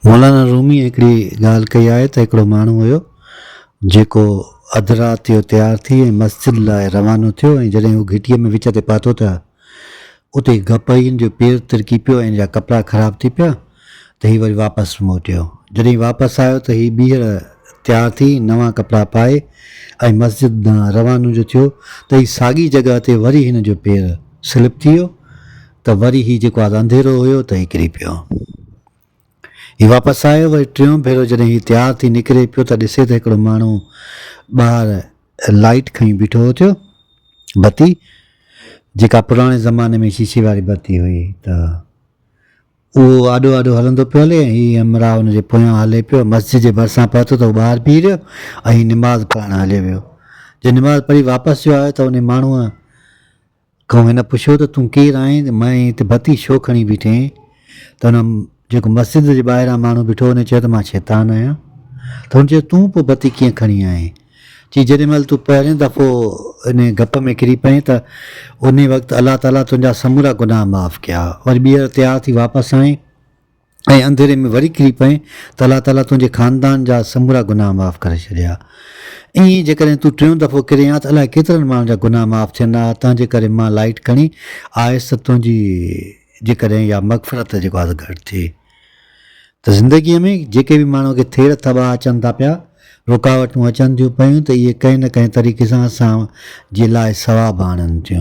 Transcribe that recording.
مولانا روميء هڪڙي ڳالهه ڪئي آهي ته هڪڙو ماڻهو هيو، جيڪو اڌ رات جو تيار ٿي ۽ مسجد لاء روانو ٿيو ۽ جڏهن هو گهٽيء ۾ وچ تي پاتو ته اتي گپهين جو پير ترڪي پيو ۽ هن جا ڪپڙا خراب ٿي پيا ته هي وري واپس موٽيو. جڏهن واپس آيو ته هي ٻيهر تيار ٿي، نوان ڪپڙا پائي ۽ مسجد ڏانهن روانو جو ٿيو ته هي ساڳي جڳهه تي وري هن جو پير سلپ ٿي ويو ته وري هي جيڪو آز انڌيرو هيو ته هي ڪري پيو. هي واپس آيو وري ٽيون ڀيرو جڏهن هي تيار ٿي نڪري پيو ته ڏسي ته هڪڙو ماڻهو ٻاهر لائيٽ کڻي بيٺو هو ٿيو بتي جيڪا پراڻي زماني ۾ شيشي واري بتي هئي ته اهو آڏو آڏو هلندو پيو هلي هي همراهه ان جي پويان هلي پيو مسجد جي ڀرسان پهتو ته هو ٻاهر بيهي رهيو ۽ هي نماز پڙهڻ هليو ويو جڏهن نماز پڙهي واپس جو آيو ته ان ماڻهوء کان هن پڇيو ته تون ڪير آهين ته مئين هتي ڀتي ڇو کڻي بيٺي آهين ته هن جيڪو مسجد جي ٻاهران ماڻهو بيٺو هو هن چيو ته مان شيطان آهيان ته هن چيو تون پوء ڀتي ڪيئن کڻي آئين چي جيڏي مهل تون پهرين دفعو ان گپ ۾ ڪري پئين ته انهي وقت الله تعالي تنهنجا سمورا گناهه معاف ڪيا وري ٻيهر تيار ٿي واپس آئين ۽ انڌيري ۾ وري ڪري پئين ته الله تعاليٰ تنهنجي خاندان جا سمورا گناهه معاف ڪري ڇڏيا. ائين ئي جيڪڏهن تون ٽيون دفعو ڪرين ها ته الائي ڪيترن ماڻهن جا گناهه معاف ٿين ها، تنهنجي ڪري مان لائيٽ کڻي آيس ته تنهنجي جيڪڏهن اها مغفرت جيڪو آهي گهٽ ٿئي. ته زندگيء ۾ جيڪي به ماڻهوء کي ٿيڙ ٿٻا اچن ٿا پيا، رڪاوٽون اچن ٿيون پيون ته اهي ڪنهن نه ڪنهن طريقي سان اسان جي لاء ثواب آڻين ٿيون.